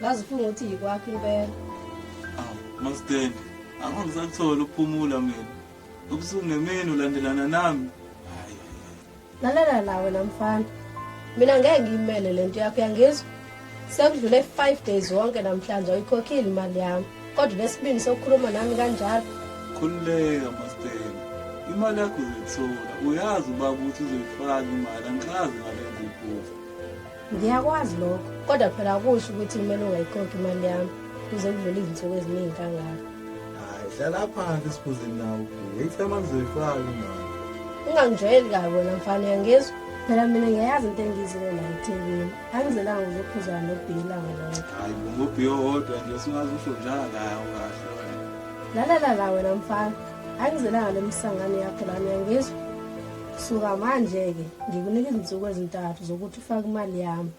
ngaze ufunga ukuthi yikwakho impela awu masteni angeke ngisakuthole ukuphumula mina ubusuku nemini ulandelana nami lalela la wena mfana mina ngeke ngiyimele le nto yakho yangizwa sekudlule five days wonke namhlanje ayikhokhile imali yami kodwa lesibini sokukhuluma nami kanjalo khululeka masteni imali yakho uzoyithola uyazi ubaba ukuthi uzoyifaka imali angikazi ngale nto iphutha Ngiyakwazi lokho kodwa phela akusho ukuthi kumele ungayikhokhi imali yami kuze kudlule izinsuku eziningi kangaka. Hayi hlala phansi sibuze nawe. Ngiyithema ngizoyifaka imali. Ungangijwayeli kabi wena mfana uyangizwa? Phela mina ngiyayazi into engiyizile la eThekwini. Angizelanga ukuzophuzana nobhiyi ilanga lonke. Hayi ngubhiyi owodwa nje usungaze usho njalo hayi awukahle wena. Lalala la wena mfana. Angizelanga le misangano yakho lana uyangizwa? Suka manje-ke ngikunika izinsuku ezintathu zokuthi ufake imali yami.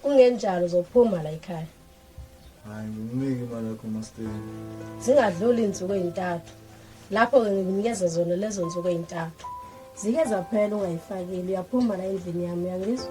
Kungenjalo uzophuma la ekhaya. Hayi ngikunike imali yakho masteni. Zingadluli izinsuku ezintathu. Lapho-ke ngikunikeza zona lezo nsuku ezintathu. Zike zaphela ungayifakile uyaphuma la endlini yami uyangizwa?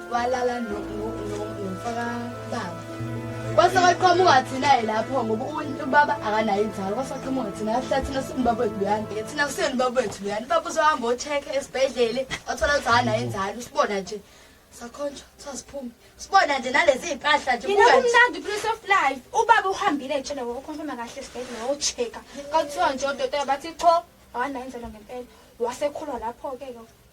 walala nomfaka baba kwase kwaqhamuka thina-ke lapho ngoba ubaba akanayo inzalo kwase kwaqhamuka thina ahlala thina simbaba wethu luyani thina kuseni ubaba wethu luyani ubaba uzohamba ocheke esibhedlele wathola ukuthi akanayo inzalo usibona nje sakhonjwa sasiphume sibona nje nalezi iy'mpahla nje yena kumnandi prince of life ubaba uhambile etshele wokhonfema kahle esibhedlela wocheka kwakuthiwa nje odokotela bathi qho awanayo inzalo ngempela wasekhulwa lapho-ke ke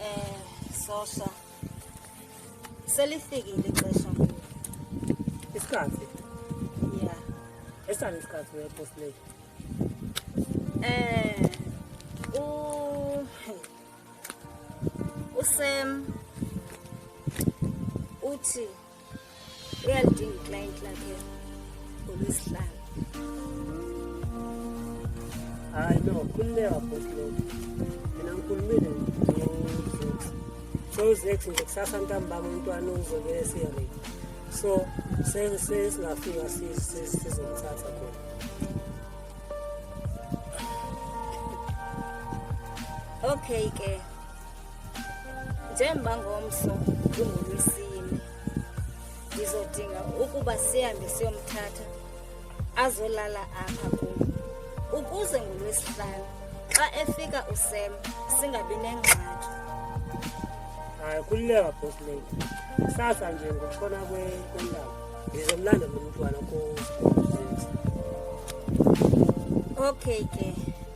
Eh sosha. Selifikile ixesha. Isikhathi. Yeah. Esani isikhathi we post late. Eh u usem uthi uyalidinga iclient lakhe ngolwesihlanu hayi no khululeka bhosi lokho mina ngikhulumile so uzex nje kusasa ntambama umntwana uzobe esiyarei so sesingafika sizomthatha khona okay ke Njengoba ngomso kungolwesine, ndizodinga ukuba sihambe siyomthatha azolala apha kum ukuze ngolwesihlanu xa efika usem singabi nengxaki hayi kululeka boss lady kusasa nje ngokutshona kwendaba ngizomlanda lo mntwana ko okay ke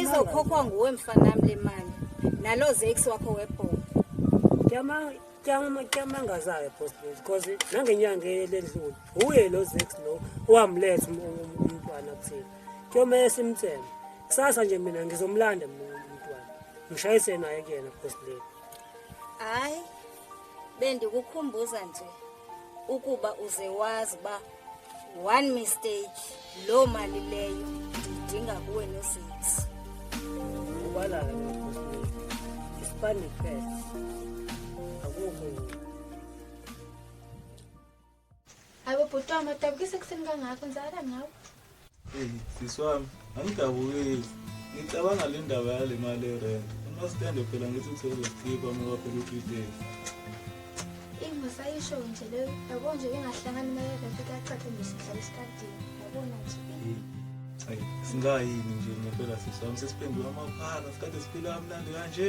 izokhokhwa nguwe mfanami le mali nalo zex wakho webhola kyamangazayo postbos because nangenyanga eledlule wuye lo zex lo owamletha um, um, um, umntwana kuthina kuyomele simthembe kusasa nje mina ngizomlanda umntwana ngishayise naye kuyena postbos hayi bendikukhumbuza nje ukuba uze wazi uba one mistake loo mali leyo ndiyidinga kuwe nozinzi ubalala isipande kuphela akukho ayi bobhuti wam adabukise ekuseni kangako nzala ngawo sisi wami angidabukeli ngicabanga le ndaba yale mali erent umasitende phela ngithi usezozikhipha uma kwaphela u-three days eyi masayisho nje leyo yabo nje bengahlangani imali erent kuyacathe nje sihlala esikadini yabona nje ayi singayini nje ngempela sisi wami sesiphenduka amaphaka sikade siphila kamnandi kanje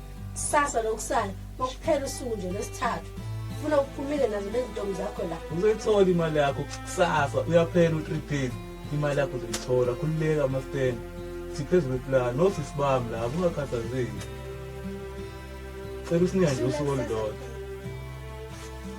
kusasa lokusala kokuphela usuku nje lwesithathu funa uphumile nazo nezintombi zakho la uzoyithola imali yakho kusasa uyaphela u-three days imali yakho uzoyithola khululeka amasten siphezu kwepulani nosisi bami la kungakhathazeki cela usinyanje usuku olulodwa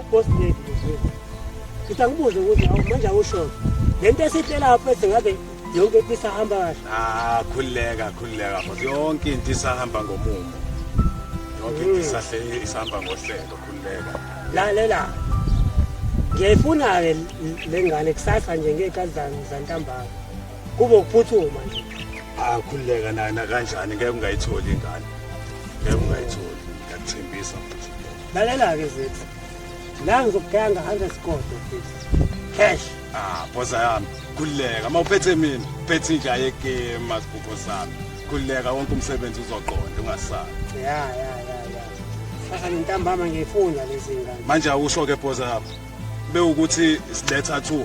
ubosi lethu muzwezi ngithi angibuze ukuthi awu manje awushona le nto esihle lapho ethi ngabe yonke into isahamba kahle ah khululeka khululeka futhi yonke into isahamba ngomumo yonke into hmm. isahle isahamba ngohlelo khululeka lalela ngiyayifuna-ke le ngane kusasa nje ngey'khathi zantambama Kube ukuphuthuma nje. Akhululeka naye nakanjani ngeke ungayitholi ingane. Ngeke ungayitholi. Ngiyakuthembisa futhi. Lalela ke zethu. La ngizokugaya ngahamba esigodlo futhi. Cash. Ah, boza yami. Khululeka. Uma uphethe mina, phethe inja yekema sibuko sami. Khululeka wonke umsebenzi uzoqonda ungasali. Ya ya ya ya. Sasa ngintambama ngiyifunda lezi ngane. Manje awusho ke boza yami. Bewukuthi siletha 2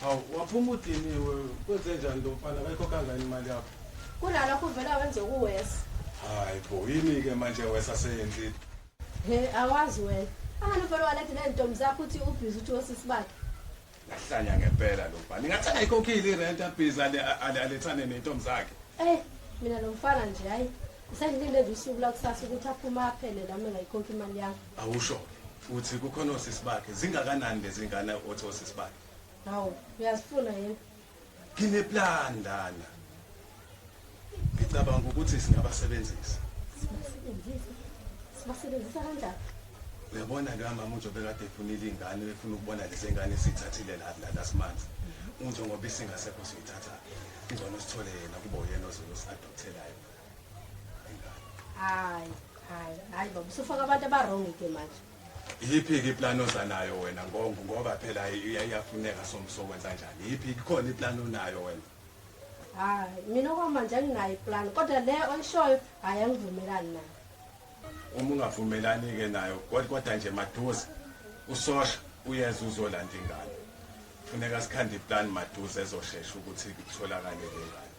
Hawu waphuma udiniwe kwenze njani lo mfana kayikho kangani imali yakho? Kunalokho uvela wenze kuwesa. Hayi bo yini ke manje wesa seyenzile. He awazi wena. Angani uvela walethe nezintombi zakho uthi ubhizi uthi wosisi bakhe. Lahlanya ngempela lo mfana. Ingathi akayikhokhile irent abhizi ale ale- alethane nentombi zakhe. Eh mina lo mfana nje hayi. Usendilinde nje usuku lakusasa ukuthi aphume aphele nami ngayikhokha imali yami. Awusho ukuthi kukhona osisi bakhe zingakanani lezingane othi osisi bakhe? Hawu, uyazifuna yini? Ngineplan ndana. Ngicabanga ukuthi singabasebenzisa. Sibasebenzisa. Sibasebenzisa kanjani? Uyabona ke mama uNjo bekade efunile ingane efuna ukubona lezi ngane sithathile la la last month. Unjo ngoba isingasekho siyithatha. Ingcono sithole yena kubo yena ozoyosi adokthelayo. hayi hayi hayi baba usufaka abantu abarongi ke manje yiphi-ke iplani oza nayo wena ngongo ngoba phela iyafuneka somsokwenza njani yiphi kukhona iplani onayo wena hayi mina okwamanje anginayo iplani kodwa le oyishoyo hhayi angivumelani nayo uma ungavumelani-ke nayo kodwa nje maduze usosha uyeza uzolanda ingane funeka sikhande iplani maduze ezoshesha ukuthi kutholakale le ngane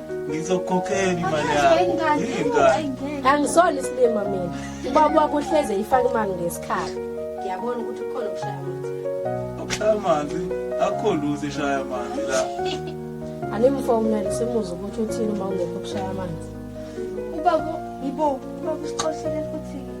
ngizokukhokhela imali yakho angisona isilima mina ubaba wakho uhleze ifake imali ngesikhathi ngiyabona ukuthi ukhona ukushaya amanzi ukushaya amanzi akho luze ishaya amanzi la animfowunele simuze ukuthi uthini uma ungekho ukushaya amanzi ubaba yibo ubaba usixoshele futhi-ke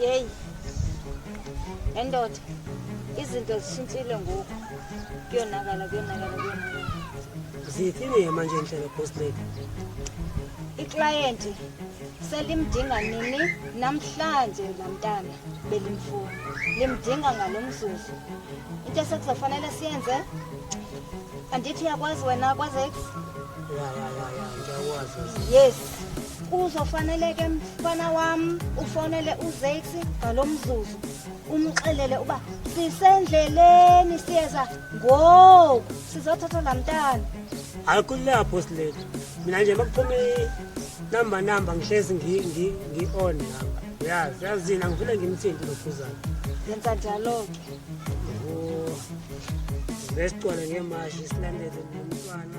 yeyi endoda izinto zishintshile ngoku kuyonakala kuyonakala kuyonakala zithini-ke manje ndlela boss lady iklayenti selimdinga nini namhlanje lamntana belimfuna limdinga ngalo mzuzu into esekuzofanele siyenze andithi uyakwazi wena kwazex ya ya ya ya ngiyakwazi yes Kuzofaneleke mfana wami ufonele uZax ngalomzuzu umxelele uba sisendleleni siyeza ngoku sizothatha lamntana. Hayi kulapho silethu. Mina nje makuphuma number number ngihlezi ngi ngi ngi on lapha. Yazi yazina ngifuna ngimthinte lokhuzana. Yenza njalo ke. Oh. Besicwale ngemashi silandele nomntwana.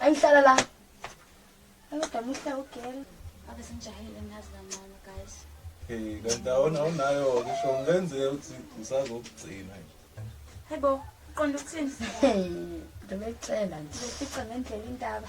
Angihlala la. Kodwa muhle ugela. Ake simjahile ngazi kancane guys. Eh kanti awona awunayo ngisho ngenze ukuthi ngisazokugcina nje. Hayibo, uqonda ukuthini? Ngibecela nje. Ngifica ngendlela indaba.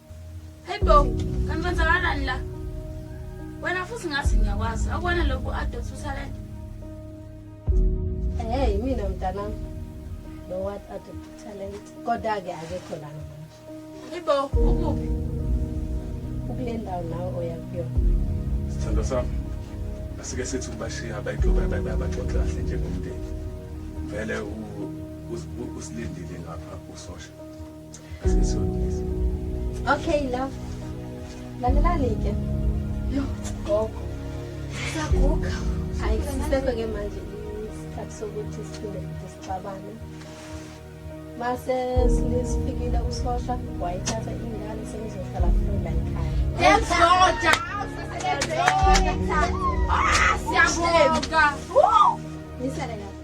Hey bo, kanti kwenzakalani la? Wena futhi ngathi ngiyakwazi. Akubona lokhu adot uThalente. Hey, mina mntanami. Lo what adot uThalente. Kodwa ke akekho la manje. Hey bo, ukuphi? Ukule ndawo nawe oya kuyona. Sithando sami. Asike sithi ubashiya abayixoxa abaxoxa kahle njengomndeni. Vele usilindile ngapha usosha. Okay, love. Lalelani ke. Yo, gogo. Saguga. Hayi, sisekho ke manje isikhathi sokuthi siphinde sixabane. Mase silifikile usosha wayithatha ingane sengizohlala futhi la ekhaya. Yes, Roger. Awusebenze. Ah, siyabonga. Nisele lapha.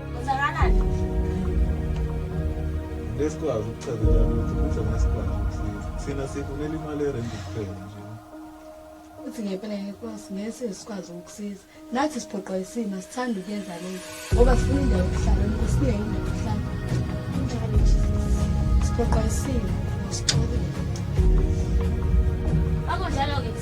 Uzakalani? Lesikwazi ukuchazela ukuthi kuze nesikwazi ukusiza. Thina sifunela imali erenti kuphela nje. Uthi ngempela inkosi ngeke sikwazi ukusiza. Nathi siphoqwa isimo sithanda ukuyenza lento ngoba sifuna indawo yokuhlala inkosi iye indawo yokuhlala. Kunjalo nje. Siphoqwa isimo sixolile. Akunjalo-ke.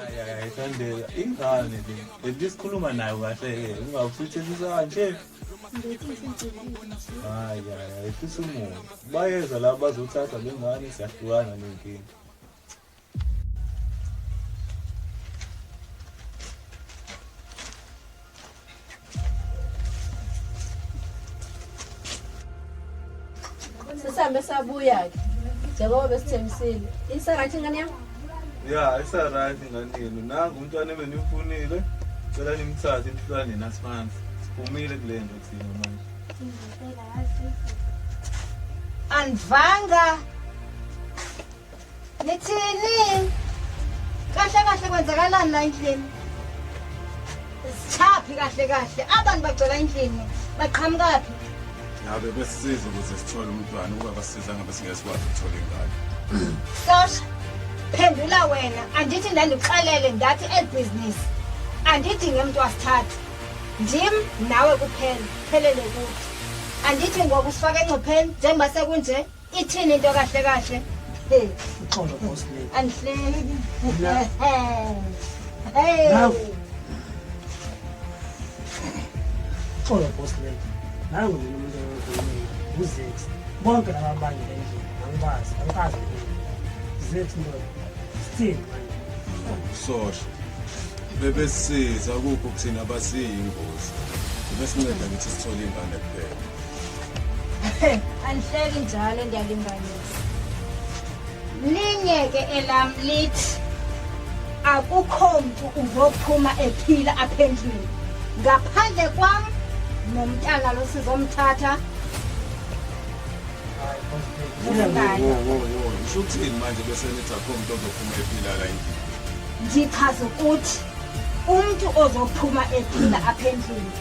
ayayithandela ingane le lento isikhuluma nayo kahle-ke ungawusitshenzisa kanje hayi hayi ayehlisa umoya bayeza laba bazothatha le ngane siyahlukana nenkinga sisambe sabuya-ke njengoba besithembisile isarathi ingane yam ya isarathi ingane yenu nangu umntwana ebeniwufunile cela nimthathe imhlwana nina simanzi siphumile kule nto thina manje andivanga Nithini? Kahle kahle kwenzakalani la endlini? Sithaphi kahle kahle. Abantu bagcwala endlini. Baqhamukaphi? Ngabe besisiza ukuze sithole umntwana ukuba basiza ngabe singesikwazi ukuthola ingane. Sasha, phendula wena. Andithi ndandikuxelele ndathi elibhizinisi. Andidinge umuntu wasithathu. Ndim nawe kuphela. Phelele kuthi. Andithi ngoku sifake engcupheni njengoba sekunje. Ithini into kahle kahle? Hey, uxolo boss le. Angihleki. Hey. Uxolo boss le. Nangu mina umuntu oyokhuluma. Uzex. Bonke laba bantu endlini angibazi, angikazi. Zex ndoda. Still manje. Sosho. Bebesiza ukuphi kuthina basiyingozi. Besinceda ngithi sithole ingane kuphela. andihleki njalo ndiyalinganisa linye ke elam lithi akukho mntu uzophuma ephila apha endlwini ngaphandle kwam nomntana lo sizomthatha usho ukuthini manje bese nithi akho mntu ozophuma ephila la endlini ndichaza ukuthi umntu ozophuma ephila apha endlini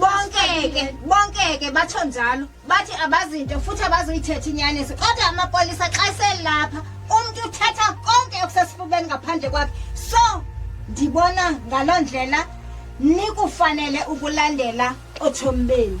bonkeke bonkeke batho njalo bathi abazinto futhi abazuyithetha inyaniso kodwa amapolisa xa selapha umntu uthetha konke okusesifubeni ngaphandle kwakhe so ndibona ngaloo ndlela nikufanele ukulandela otshomi benu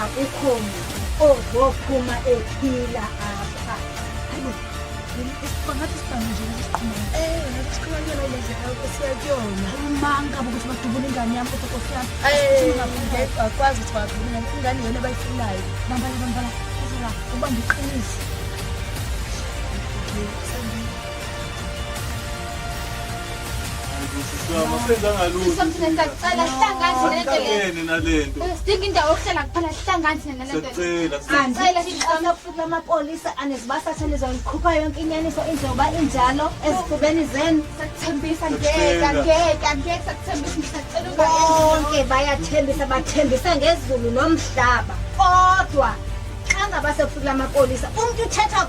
akukho muntu ozophuma ephila apha bangathi sibhange nje siqhumanisixhumanela lezi akho siya kuyona umanga bokuthi badubula ingane yami kodwa kofi yami akwazi ukuthi badubula ingane yona abayifunayo bambala bambala kuzela ubambe iqiniso sidinga indawo yokuhlala kuphela sihlanganise nalentocela sicela futhi lamapolisa anezibasa athane zonikhupha yonke inyaniso injengoba injalo ezifubeni zenu sakuthembisa ngeka ngeka ngeke sakuthembisa ngisacela bonke bayathembisa bathembisa ngezulu nomhlaba kodwa xa ngaba sekufuthi lamapolisa umuntu uthetha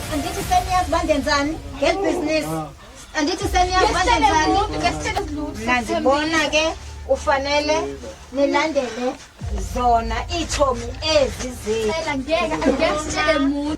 andithi seniyazi uba ndenzani ngeli bhizinisi ah. andithi seniyazi uba ndenzani mna ndibona ke ufanele nilandele zona iitshomi ezi zenu